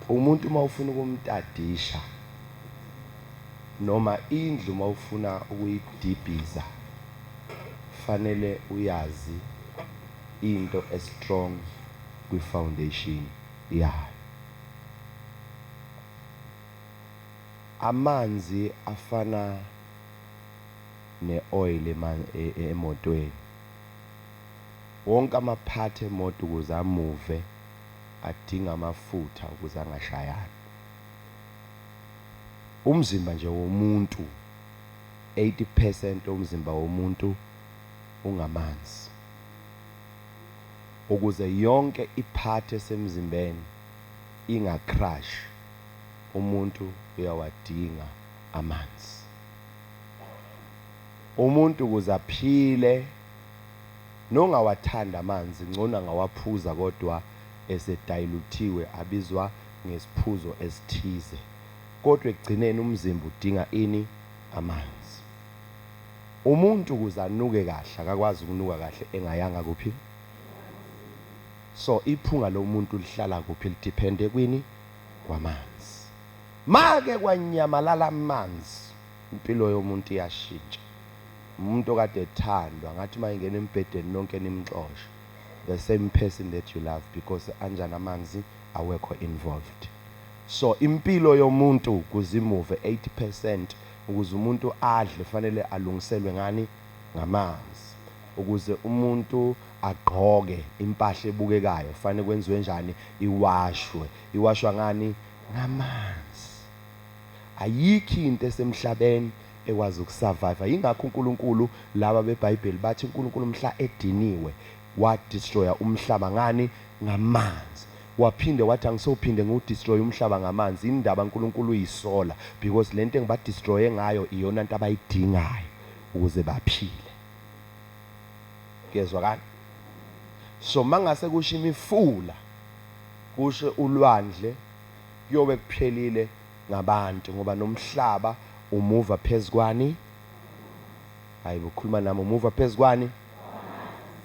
Umuntu uma ufuna ukumtadisha noma indlu uma ufuna ukuyidibhiza fanele uyazi into estrong kwi-foundation yayo. Amanzi afana ne-oil e, e, emotweni. Wonke amaphathi emoto ukuze amuve adinga amafutha ukuze angashayani. Umzimba nje womuntu 80 percent omzimba womuntu ungamanzi. Ukuze yonke iphathi esemzimbeni ingacrash umuntu uyawadinga amanzi. Umuntu ukuze aphile Nongawathandi amanzi ngcono angawaphuza kodwa esedayiluthiwe abizwa ngesiphuzo esithize. Kodwa ekugcineni umzimba udinga ini? Amanzi. Umuntu ukuze anuke kahle akakwazi ukunuka kahle engayanga kuphi? So iphunga lomuntu lihlala kuphi? Lidiphende kwini? Kwamanzi. Make kwanyamalala amanzi. Impilo yomuntu iyashintsha. Umuntu okade ethandwa ngathi uma engena embhedeni nonke nimxoshe, the same person that you love because anjani amanzi awekho involved. So impilo yomuntu kuze imuve 80 percent ukuze umuntu adle fanele alungiselwe ngani? Ngamanzi. Ukuze umuntu agqoke impahla ebukekayo fanele kwenziwe njani? Iwashwe. Iwashwa ngani? Ngamanzi. Ayikho into esemhlabeni ekwazi ukusurvive. Yingakho uNkulunkulu laba beBhayibheli bathi uNkulunkulu mhla ediniwe wa destroyer umhlaba ngani ngamanzi. Waphinde wathi angisophinde ngiwu destroy umhlaba ngamanzi. Indaba uNkulunkulu uyisola because lento engiba destroye ngayo iyona nto abayidingayo ukuze baphile. Kuyezwakala? So mangase kusho imifula kusho ulwandle kuyobe kuphelile ngabantu ngoba nomhlaba umuva phezukwani hayi bokhuluma nami umuva phezukwani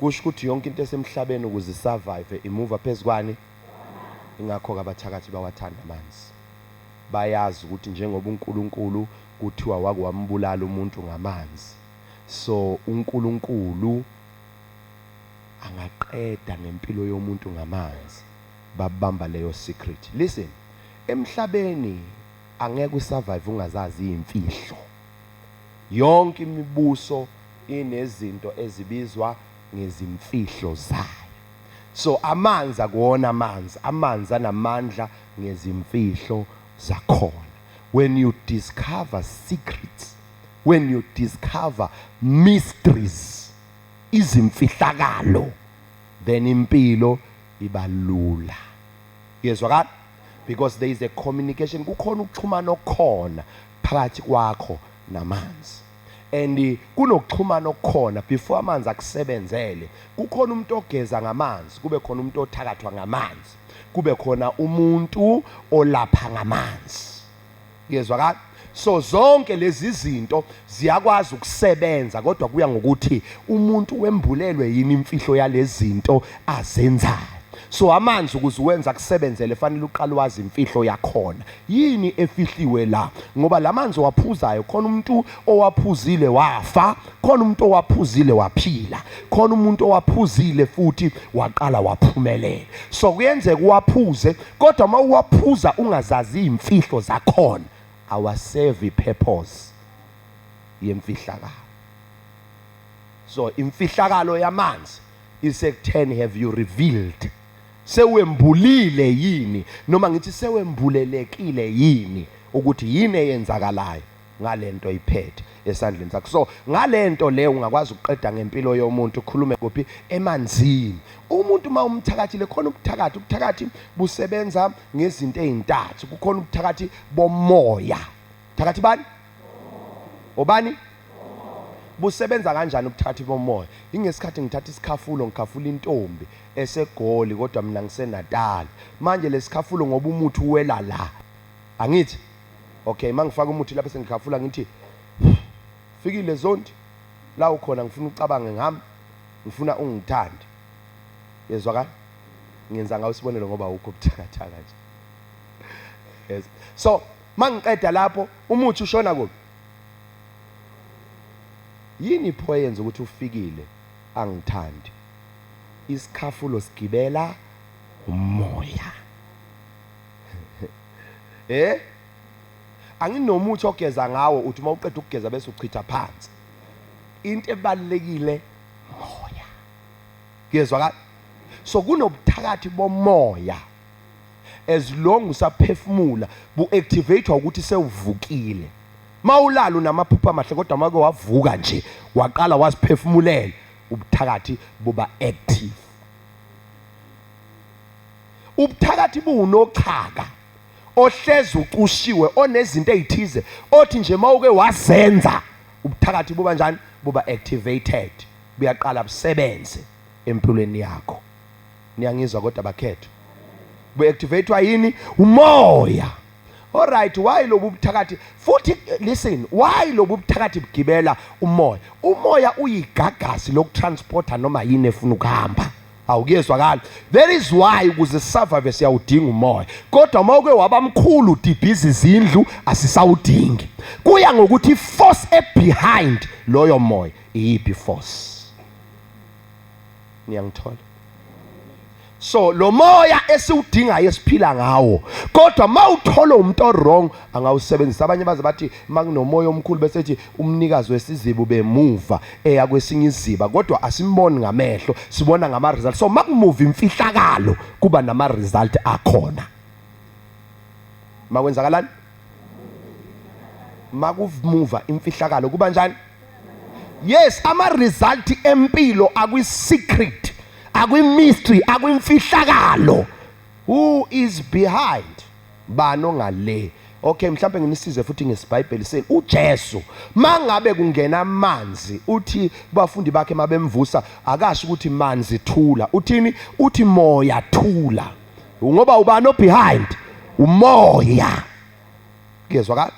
kusho ukuthi yonke into esemhlabeni ukuze isurvive imuva phezukwani ingakho kabathakathi bawathanda amanzi bayazi ukuthi njengoba uNkulunkulu kuthiwa wake wambulala umuntu ngamanzi so uNkulunkulu angaqeda ngempilo yomuntu ngamanzi babamba leyo secret listen emhlabeni angeke u survive ungazazi izimfihlo yonke imibuso inezinto ezibizwa ngezimfihlo zayo so amanzi akuwona amanzi amanzi anamandla ngezimfihlo zakhona when you discover secrets when you discover mysteries izimfihlakalo then impilo ibalula yezwakala because there is a communication kukhona ukuxhumana okukhona phakathi kwakho namanzi and kunokuxhumana okukhona before amanzi akusebenzele kukhona umuntu ogeza ngamanzi kube khona umuntu othakathwa ngamanzi kube khona umuntu olapha ngamanzi Kuyezwakala? So zonke lezi zinto ziyakwazi ukusebenza kodwa kuya ngokuthi umuntu wembulelwe yini imfihlo yalezi zinto azenzayo. So amanzi ukuze uwenza kusebenzele fanele uqale wazi imfihlo yakhona. Yini efihliwe la? Ngoba lamanzi owaphuzayo khona umuntu owaphuzile wafa khona umuntu owaphuzile waphila khona umuntu owaphuzile futhi waqala waphumelela so kuyenzeka uwaphuze kodwa uma uwaphuza ungazazi iy'mfihlo zakhona awasevi purpose yemfihlakalo so imfihlakalo yamanzi isekutheni have you revealed sewembulile yini noma ngithi sewembulelekile yini ukuthi yini eyenzakalayo ngalento oyiphethe esandleni sakho so ngalento le ungakwazi ukuqeda ngempilo yomuntu ukhulume kuphi emanzini umuntu uma umthakathile khona ubuthakathi ubuthakathi busebenza ngezinto ezintathu kukhona ubuthakathi bomoya thakathi bani obani busebenza kanjani ubuthakathi bomoya ingesikhathi ngithatha isikhafulo ngikhafula intombi esegoli kodwa mina ngisenatali manje lesikhafulo ngoba umuthi uwela la angithi Okay, mangifaka umuthi lapha sengikhafula ngithi fikile zonti la ukhona ngifuna ucabange ngami ngifuna ungithande yezwa ka ngenza ngawo isibonelo ngoba ukho buthakathaka nje yes so mangiqeda lapho umuthi ushona kuphi yini pho yenza ukuthi ufikile angithandi isikhafulo sigibela umoya eh anginomuthi ogeza ngawo uthi uma uqeda ukugeza bese uchitha phansi into ebalekile moya kuyezwa ka so kunobuthakathi bomoya as long usaphefumula bu activate ukuthi sewuvukile mawulala unamaphupha amahle kodwa make wavuka nje waqala waziphefumulela ubuthakathi buba active ubuthakathi buwunochaka ohleze ucushiwe onezinto ezithize othi nje mawuke wazenza ubuthakathi buba njani buba activated buyaqala busebenze empilweni yakho niyangizwa kodwa bakhetho bu-activatwa yini umoya Alright why lobu buthakathi futhi listen why lobu buthakathi bugibela umoya umoya uyigagasi lokutransporter noma yini efuna ukuhamba awu kuyezwakala that is why ukuze survive siyawudinga umoya kodwa uma uke waba mkhulu udibhiza izindlu asisawudingi kuya ngokuthi force ebehind loyo moya iyiphi force niyangithola so lo moya esiwudingayo esiphila ngawo kodwa mawuthola umuntu owrong angawusebenzisa abanye baze bathi makunomoya omkhulu bese ethi umnikazi wesiziba ubemuva eya kwesinye iziba kodwa asimboni ngamehlo sibona ngama result so makumuva imfihlakalo kuba nama result akhona makwenzakalani makumuva imfihlakalo kuba njani yes ama result empilo akwi secret akwi mystery akwimfihlakalo who is behind Bani ongale? Okay, mhlawumbe nginisize futhi ngesibhayibheli senu. UJesu mangabe kungena amanzi, uthi kubafundi bakhe mabemvusa, akasho ukuthi manzi thula. Uthini? Uthi moya thula. Ngoba ubani obehind? Umoya. Kuyezwakala?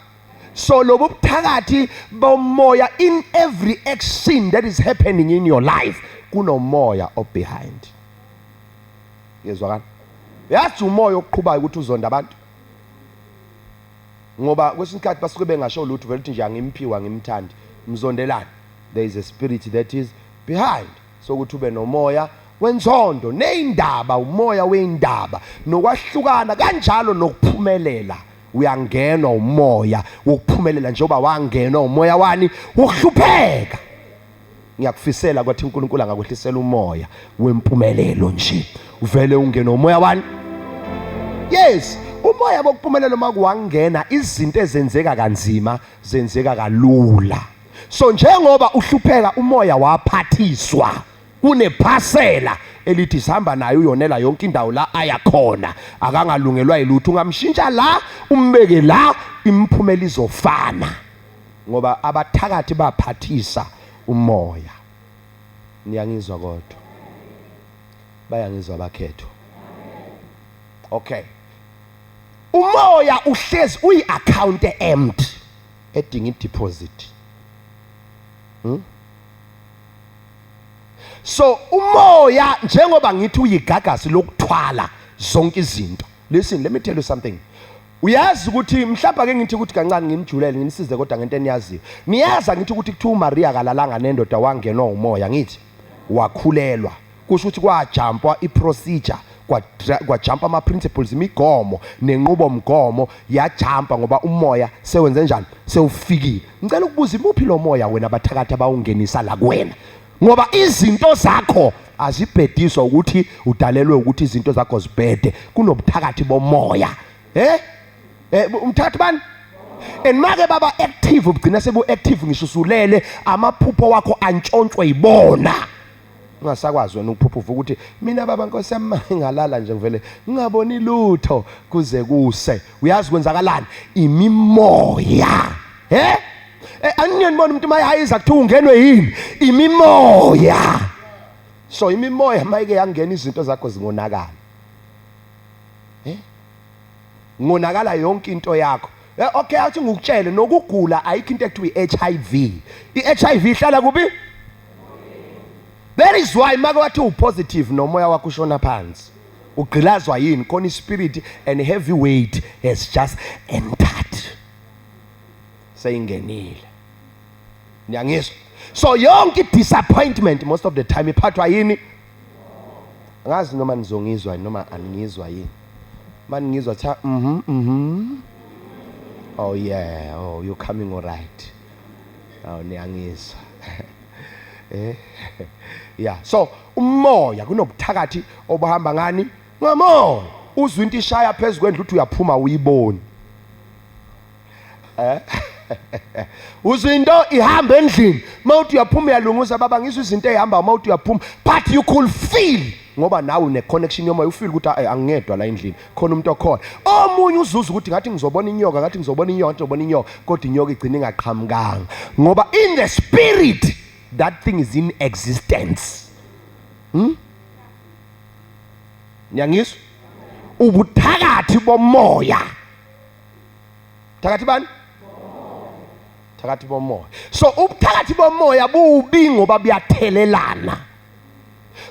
So lobu buthakathi bomoya in every action that is happening in your life kunomoya obehind. Ngezwakala. Yazi umoya oqhubayo ukuthi uzonda abantu. Ngoba kwesinye isikhathi basuke bengasho lutho vele uthi nje angimphiwa ngimthandi. Mzondelani? There is a spirit that is behind. Sokuthi ube nomoya wenzondo neyindaba umoya weyindaba nokwahlukana kanjalo nokuphumelela uyangenwa umoya wokuphumelela njengoba wangenwa umoya wani wokuhlupheka ngiyakufisela kwathi uNkulunkulu angakwehlisela umoya wempumelelo nje uvele ungene umoya wani yes umoya bokuphumelela uma kuwangena izinto ezenzeka kanzima zenzeka kalula so njengoba uhlupheka umoya waphathiswa kunephasela elithi sihamba naye uyonela yonke indawo la ayakhona akangalungelwa yilutho ungamshintsha la umbeke la imphumela izofana ngoba abathakathi baphathisa umoya niyangizwa kodwa bayangizwa bakhetho okay umoya uhlezi uyi account empty edinga ideposit hmm? so umoya njengoba ngithi uyigagasi lokuthwala zonke izinto listen let me tell you something Uyazi ukuthi mhlawumbe ake ngithi ukuthi kancane ngimjulele ngimsize kodwa ngento eniyaziyo. Niyazi angithi ukuthi kuthiwa uMaria akalalanga nendoda wangenwa umoya ngithi wakhulelwa. Kusho ukuthi kwajampwa iprocedure kwajampa ama principles imigomo nenqubo mgomo yajampa ngoba umoya sewenze njani sewufikile. Ngicela ukubuza imuphi lo moya wena abathakathi abawungenisa la kuwena. ngoba izinto zakho azibhediswa ukuthi udalelwe ukuthi izinto zakho zibhede kunobuthakathi bomoya eh eh umthathi bani and make baba active ubugcina sebu active ngisho usulele amaphupho wakho antshontshwe yibona ungasakwazi wena ukuphupha uvuka ukuthi mina baba nkosi yami ngalala nje ngivele ngingaboni lutho kuze kuse uyazi kwenzakalani imimoya he eh, anginibona umuntu mayihayiza kuthiwa ungenwe yini imimoya so imimoya mayike yangena izinto zakho zingonakala eh ngonakala yonke into yakho eh, okay athi ngikutshele nokugula ayikho into ekuthiwa iHIV iHIV ihlala kubi That is why make wathi upositive nomoya wakho ushona phansi. Ugqilazwa yini khona ispirit and heavy weight has just entered. seyingenile niyangizwa so yonke i-disappointment most of the time iphathwa yini angazi noma nizongizwa noma aningizwa yini uma ningizwa kuthiwa mhm mhm oh yeah oh you coming all right awu niyangizwa eh ya so umoya kunobuthakathi obuhamba ngani Ngamona uzwa into ishaya phezu kwendlu uthi uyaphuma uyiboni. Eh? Uzwa into ihamba endlini, mawuthi uyaphuma uyalunguza baba ngizwe izinto ehamba mawuthi uyaphuma but you could feel ngoba nawe une connection yomoya ufeel ukuthi ay angiyedwa la endlini khona umuntu okhona omunye uzuza ukuthi ngathi ngizobona inyoka ngathi ngizobona inyoka ngathi ngizobona inyoka kodwa inyoka igcina ingaqhamukanga ngoba in the spirit that thing is in existence hmm? niyangizwa ubuthakathi bomoya thakathi bani thakathi bomoya so ubuthakathi bomoya bubi ngoba buyathelelana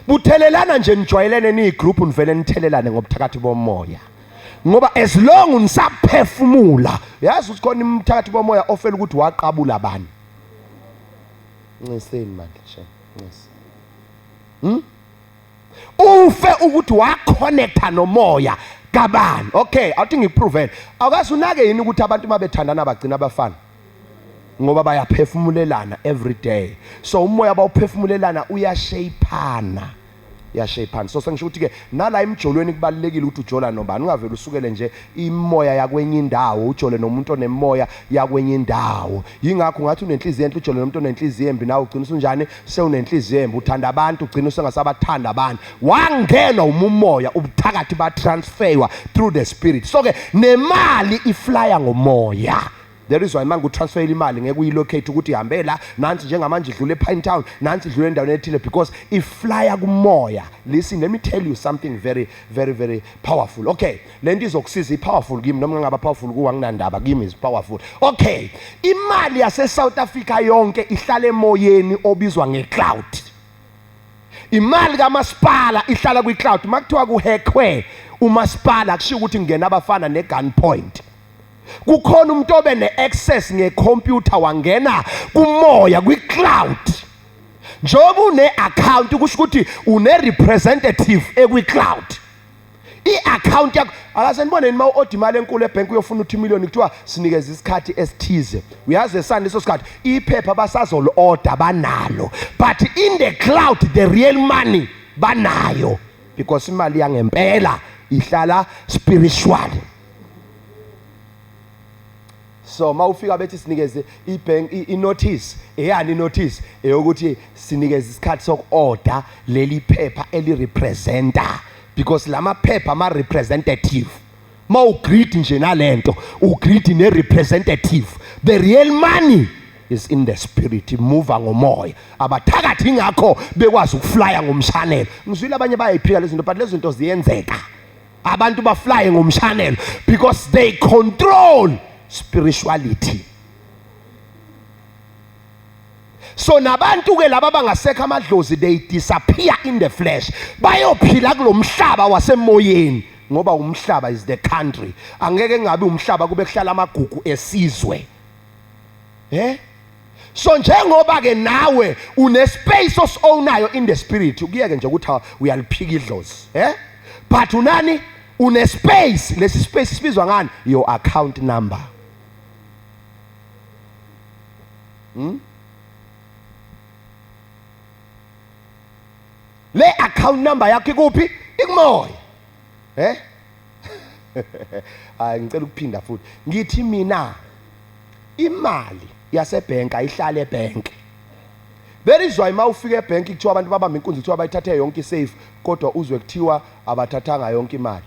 buthelelana nje nijwayelene niyigroup nivele nithelelane ngobuthakathi bomoya ngoba as long nisaphefumula yazi ukuthi khona imthakathi bomoya ofela ukuthi waqabula abantu nciseni manje shame ncisi hmm? ufe ukuthi wakhonetha nomoya kabani okay awuthi ngikuproven awukazi unake yini ukuthi abantu uma bethandana bagcina abafana ngoba bayaphefumulelana every day so umoya bawuphefumulelana uyashayiphana uyashayiphana so sengisho ukuthi-ke nala emjolweni kubalulekile ukuthi ujola nobani ungavele usukele nje imimoya yakwenye indawo ujole nomuntu onemimoya yakwenye indawo yingakho ngathi unenhliziyo enhle ujole nomuntu onenhliziyo embi nawe ugcina usunjani sewunenhliziyo embi uthanda abantu ugcina usengasabathanda abantu wangenwa umumoya ubuthakathi batransferwa through the spirit so ke nemali iflya ngomoya There is why manje utransferile imali ngeke uyilocate ukuthi ihambe la nansi njengamanje idlule ePine Town nansi idlule endaweni ethile because iflyer kumoya. Listen let me tell you something very very very powerful. Okay, lento izokusiza ipowerful kimi noma ngaba powerful kuwa nginandaba kimi is powerful. Okay, imali yase South Africa yonke ihlala emoyeni obizwa ngecloud. Imali kamasipala ihlala kwicloud makuthiwa kuhekwe umasipala kushiya ukuthi ngena abafana negun point. kukhona umuntu obe ne-access ngekhompyutha wangena kumoya kwi-cloud njengoba une-akhawunti kusho ukuthi une-representative ekwi-cloud i-akhawunti yakho akaze niboneni uma u-oda imali enkulu ebhenki uyofuna uthi imiliyoni kuthiwa sinikeza isikhathi esithize uyazi esani leso sikhathi iphepha basazoli-oda banalo but in the cloud the real money banayo because imali yangempela ihlala spiritually so uma ufika bethi sinikeze ibank inotice eyani inotice eyokuthi sinikeze isikhathi sokuorder leli phepha elirepresenta because lama phepha ama representative ma ugreed nje nalento ugreed ne representative the real money is in the spirit imuva ngomoya abathakathi ingakho bekwazi ukuflya ngomshanelo ngizwile abanye bayayiphika lezinto but lezinto ziyenzeka abantu baflaye ngomshanelo because they control spirituality so nabantu ke laba bangasekho amadlozi they disappear in the flesh bayophila kulomhlaba wasemoyeni ngoba umhlaba is the country angeke ngabe umhlaba kube kuhlala amagugu esizwe eh so njengoba ke nawe une space osownayo in the spirit ukuyeke nje ukuthi uyaliphika idlozi eh but unani une space lesi space sibizwa ngani your account number hmm? le account number yakho ikuphi ikumoya eh hayi ngicela ukuphinda futhi ngithi mina imali yasebhenki ayihlale ebhenki That is why mawufika ebhenki kuthiwa abantu babamba inkunzi kuthiwa bayithathe yonke isafe kodwa uzwe kuthiwa abathathanga yonke imali.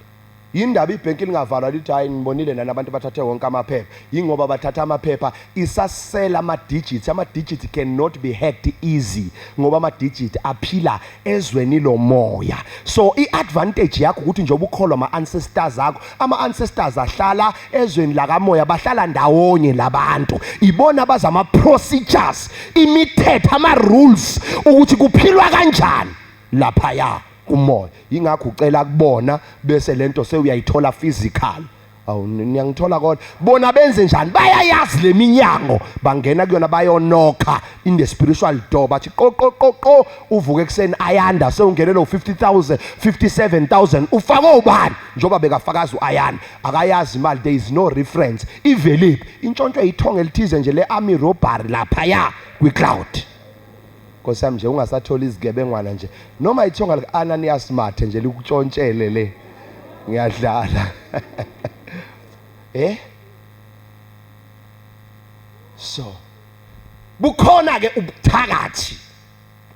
Yindaba ibhenki lingavalwa lithi hayi ngibonile nani abantu bathathe wonke amaphepha. yingoba bathatha amaphepha isasela ama-digit ama-digit cannot be hacked easy ngoba ama-digit aphila ezweni lomoya so i-advantage yakho ukuthi njengoba ukholwa ama-ancestors akho ama-ancestors ahlala ezweni lakamoya bahlala ndawonye labantu ibona baza ama-procedures imithetho ama-rules ukuthi kuphilwa kanjani laphaya kumoya yingakho ucela kubona bese lento sewuyayithola physical awu niyangithola kodwa bona benze njani bayayazi leminyango bangena kuyona bayonokha in the spiritual door bathi qo qo qo qo uvuke ekseni ayanda sewungenelo 50000 57000 ufake ubani njoba bekafakaza uayanda akayazi imali there is no reference iveliphi intshontsho ithonga elithize nje le army robbery lapha ya kwi cloud Nkosiyami nje ungasatholi izigebengwana nje noma ithonga lika Ananias mathe nje likutshontshele le ngiyadlala eh so bukhona ke ubuthakathi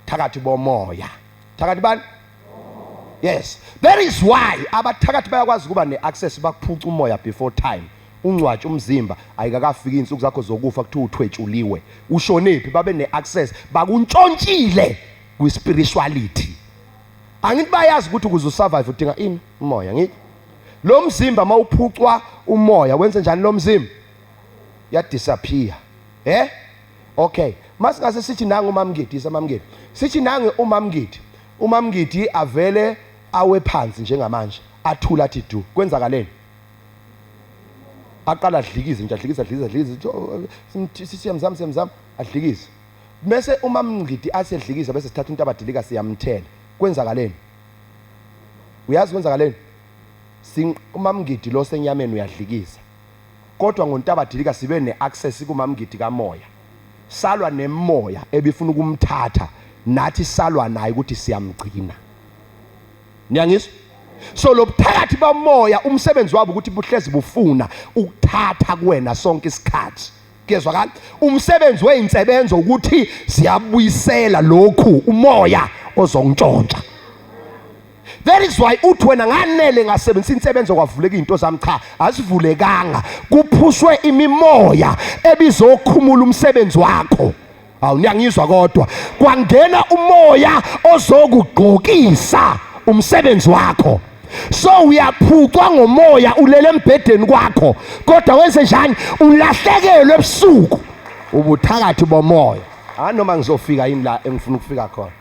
thakathi bomoya thakathi bani yes that is why abathakathi bayakwazi ukuba ne-access bakuphuca umoya before time ungcwatshe umzimba ayikakafiki insuku zakho zokufa kuthiwa uthwetshuliwe ushonephi babe neaccess bakuntshontshile kwispirituality angithi bayazi ukuthi ukuze usurvive udinga ini umoya ngikho lo mzimba mawuphucwa umoya wenze njani lo mzimba ya disappear eh okay masingase sithi nangu umamngidi isamamngidi sithi nangu umamngidi umamngidi avele awe phansi njengamanje athula athi du kwenzakaleni aqala adlikize nje adlikize adlikize adlikize oh, eh, siyamzama siyamzama adlikize bese uma mngidi asedlikiza bese sithatha into abadilika siyamthela kwenzakaleni uyazi kwenzakaleni umamngidi lo senyameni uyadlikiza kodwa ngontabadilika sibe ne-access kumamngidi kamoya salwa nemoya ebifuna ukumthatha nathi salwa naye ukuthi siyamgcina niyangizwa so lobuthakathi bamoya umsebenzi wabo ukuthi buhlezi bufuna ukuthatha kuwena sonke isikhathi kuyezwakala umsebenzi weyinsebenzo ukuthi siyabuyisela lokhu umoya ozongitshontsha That is why uthi wena nganele ngasebenzisa insebenzo kwavuleka izinto zami cha azivulekanga kuphushwe imimoya ebizokhumula umsebenzi wakho Hawu niyangizwa kodwa kwangena umoya ozokugqokisa umsebenzi wakho. So uyaphucwa ngomoya ulele embhedeni kwakho kodwa wenze njani ulahlekelwe ebusuku ubuthakathi bomoya. Ah noma ngizofika yini la engifuna ukufika khona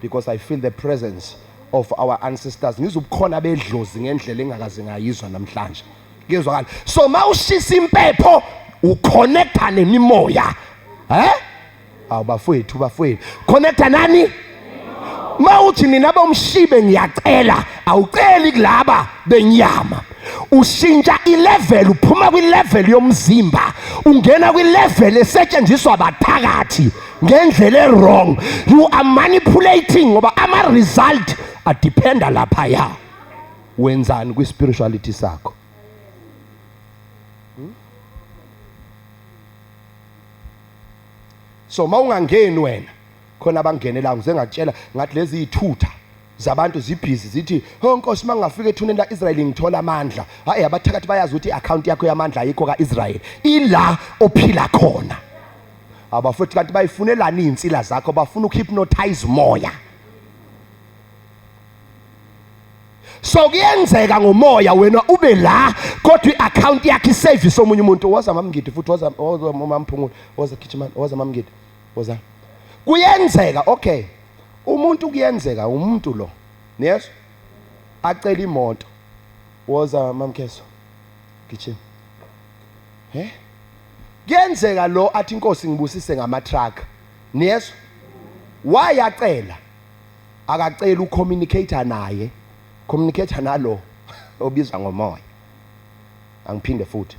because I feel the presence of our ancestors ngizubukhona bedlozi ngendlela engakaze ngayizwa namhlanje. kuyezwakala so mawushisa impepho uconnecta nemimoya eh awu bafowethu bafowethu connecta nani mawuthi nina bomshibe ngiyacela awuceli kulaba benyama ushintsha ilevel uphuma kwilevel yomzimba ungena kwilevel esetshenziswa bathakathi ngendlela ewrong you are manipulating ngoba ama result adependa lapha ya wenzani kwi spirituality sakho hmm? so mawungangeni wena khona abangenela ngize ngatshela ngathi lezi ithutha zabantu zibhizi zithi ho nkosi mangafika ethuneni la Israel ngithola amandla hayi abathakathi bayazi ukuthi account yakho yamandla ayikho ka Israel ila ophila khona abafowethu kanti bayifunelani izinsila zakho bafuna ukuhypnotize umoya so kuyenzeka ngomoya wena ube la kodwa i-akhawunti yakhe isevisi omunye umuntu woza mamngidi futhi woza mamphungula woza khitshimani woza mamngidi woza kuyenzeka okay umuntu kuyenzeka umuntu lo yes acela imoto woza mamkheso gijima he kuyenzeka lo athi inkosi ngibusise ngama truck niyezwa wayacela akacela ucommunicator naye communicator nalo obizwa ngomoya angiphinde futhi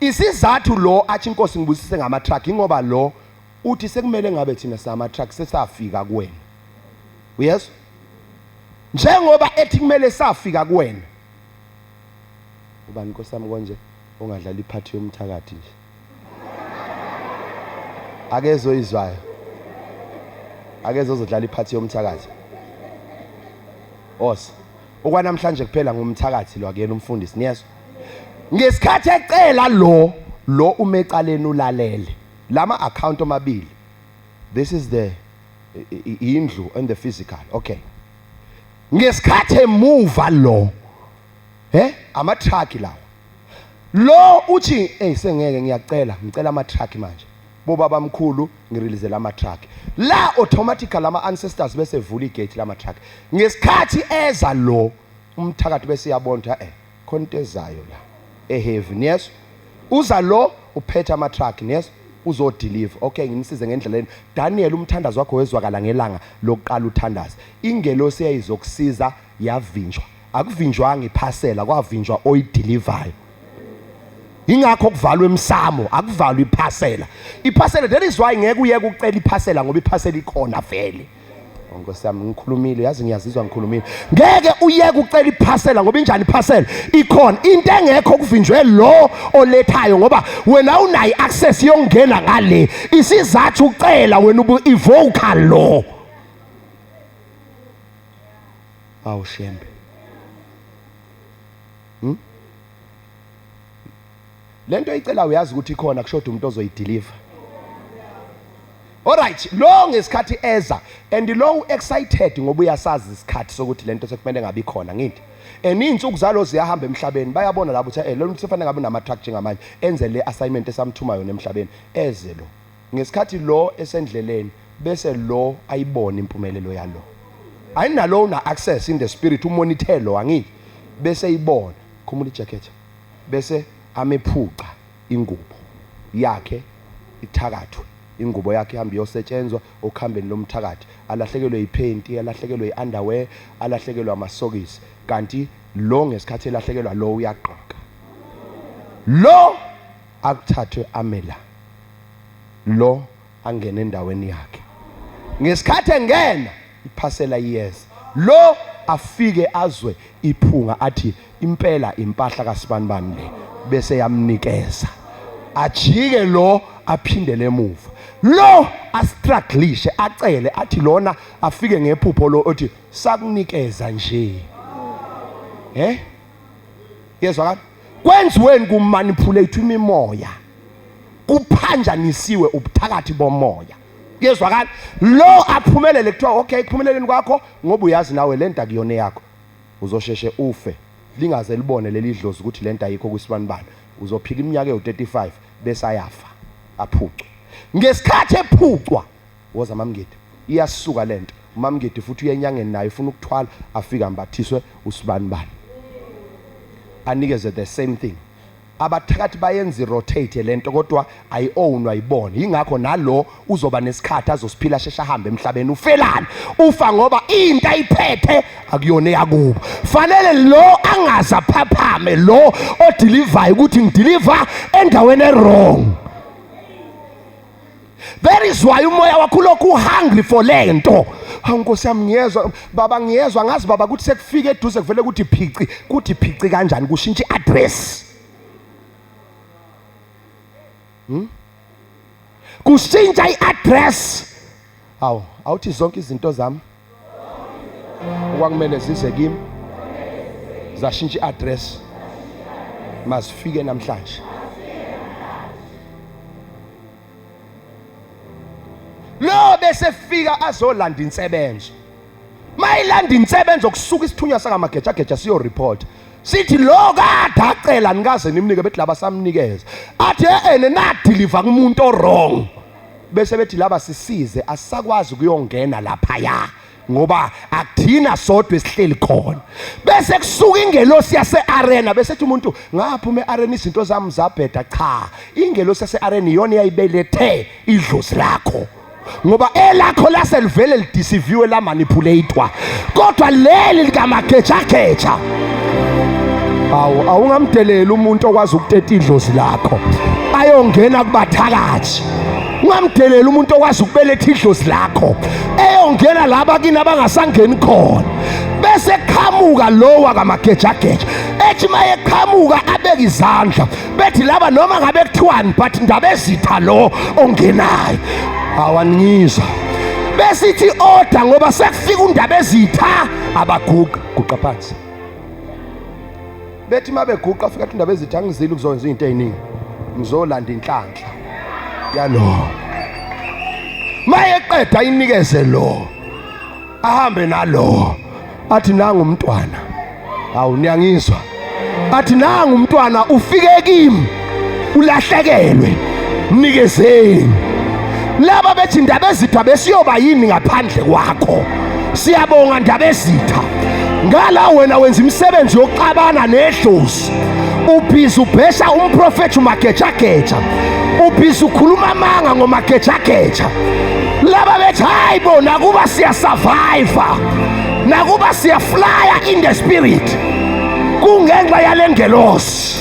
isizathu lo athi inkosi ngibusise ngama truck ingoba lo uthi sekumele ngabe thina sama truck sesafika kuwena uyezwa njengoba ethi kumele safika kuwena ubani nkosami konje ungadlala iphathi yomthakathi nje akezwe oyizwayo akeze ozodlala iphathi yomthakathi os okwanamhlanje kuphela ngumthakathi lo akuyena umfundisi niyezwa ngesikhathi ecela lo lo umecaleni ulalele lama account omabili this is the indlu and the physical okay ngesikhathi emuva lo he ama truck lawo Lo uthi hey sengeke ngiyacela ngicela ama truck manje. Bobaba mkhulu ngirilizela ama truck. La automatically ama ancestors bese vula igate lama truck. Ngesikhathi eza lo umthakathi bese yabonda eh khona into ezayo la. Eheavy yes. Uza lo uphetha ama truck yes. uzodeliver okay ngimsize ngendlela leni Daniel umthandazo wakho wezwakala ngelanga lokuqala uthandaza ingelosi eyayizokusiza yavinjwa akuvinjwanga iphasela kwavinjwa oyidelivayo ingakho kuvalwa emsamo akuvalwa iphasela iphasela that is why ngeke uyeke ucela iphasela ngoba iphasela ikhona vele oh, nkosi yami ngikhulumile yazi ngiyazizwa ngikhulumile ngeke uyeke ucela iphasela ngoba injani iphasela ikhona into engekho kuvinjwe lo olethayo ngoba wena unayo i-access yokungena ngale isizathu ucela wena ubu-evoka lo Awu Shembe. Hmm? Lento icela uyazi ukuthi ikhona kushoda umuntu ozoyideliver. Alright, lo ngesikhathi eza and lo excited ngoba uyasazi isikhathi sokuthi lento sekumele ngabe ikhona ngithi. And izinsuku zalo ziyahamba emhlabeni bayabona labo ukuthi eh lo muntu sefanele ngabe nama truck njengamanje enze le assignment esamthuma yona emhlabeni eze lo. Ngesikhathi lo esendleleni bese lo ayibona impumelelo yalo. Ayinalo una access in the spirit umonithe lo angithi bese eyibona khumula ijacket bese amephuca ingubo yakhe ithakathwe ingubo yakhe ihambe iyosetshenzwa okhambeni lomthakathi alahlekelwe yiphenti alahlekelwe yi-underwear alahlekelwe amasokisi kanti lo ngesikhathi elahlekelwa lo uyagqoka lo akuthathwe amela lo angene endaweni yakhe ngesikhathi engena iphasela iyeza lo afike azwe iphunga athi impela impahla kasibanibani le bese yamnikeza ajike lo aphindele emuva lo astruglishe acele athi lona afike ngephupho lo othi sakunikeza nje eh yezwakala kwenziweni kumanipulate imimoya kuphanjanisiwe ubuthakathi bomoya kuyezwakala lo aphumelele kuthiwa okay kuphumeleleni kwakho ngoba uyazi nawe le nto akuyona eyakho uzosheshe ufe lingaze libone leli dlozi ukuthi le nto ayikho kwisibanibani uzophila iminyaka ewu-35 bese ayafa aphucwe ngesikhathi ephucwa Woza mamngidi iyasuka lento umamngidi futhi uye enyangeni naye ufuna ukuthwala afike ambathiswe usibani bani anikeze the same thing abathakathi bayenza irotate lento kodwa ayi-ownwa yibona yingakho nalo uzoba nesikhathi azosiphila sheshe ahambe emhlabeni ufelani ufa ngoba into ayiphethe akuyona eyakubo fanele lo angaze aphaphame lo odilivayo ukuthi ngidiliva endaweni erong That is why umoya wakho lokhu uhungry for lento. Hawu Nkosi yami ngiyezwa baba ngiyezwa ngazi baba ukuthi sekufike eduze kuvele ukuthi phici kuthi phici kanjani kushintsha address. Hmm? Kushintsha iaddress. Hawu awuthi zonke izinto zami okwakumele zize kimi zashintsha i-address mazifike namhlanje lo bese fika azolanda insebenzo mayilanda insebenzo kusuka isithunywa sakamagejageja siyo report sithi lo kade acela nikaze nimnike bethi laba samnikeza athi ehene nadiliva kumuntu owrong bese bethi laba sisize asisakwazi kuyongena lapha ya ngoba akuthina sodwa esihleli khona bese kusuka ingelosi yase-arena bese ethi umuntu ngaphuma e-arena izinto zami zabheda cha ingelosi yase-arena iyona eyayibelethe idlozi lakho ngoba elakho lase livele lidisiviwe lamanipulatwa kodwa leli likamagejageja awu awungamdeleli umuntu okwazi ukuteta idlozi lakho ayongena kubathakathi ungamdeleli umuntu okwazi ukubeletha idlozi lakho eyongena laba kini abangasangeni khona bese qhamuka lowa kamagejageja ethi mayeqhamuka abeke izandla bethi laba noma ngabe kuthiwani but ndabezitha lo ongenayo awaningizwa besithi order ngoba sekufika undaba ezitha abaguqa guqa phansi bethi uma beguqa fika undaba ezitha ngizile ukuzokwenza izinto eziningi ngizolanda inhlanhla yalo mayeqeda inikeze lo ahambe nalo athi nangu umntwana hawu niyangizwa athi nangu umntwana ufike kimi ulahlekelwe mnikezeni laba bethi ndaba ezitha besiyoba yini ngaphandle kwakho siyabonga ndaba ezitha ngala wena wenza imisebenzi yokuxabana nedlozi ubhizi ubhesha umprofethi umagejageja ubhizi ukhuluma amanga ngomagejageja laba bethi hayi bo nakuba siyasurviva nakuba siyaflaya in the spirit kungenxa yale ngelosi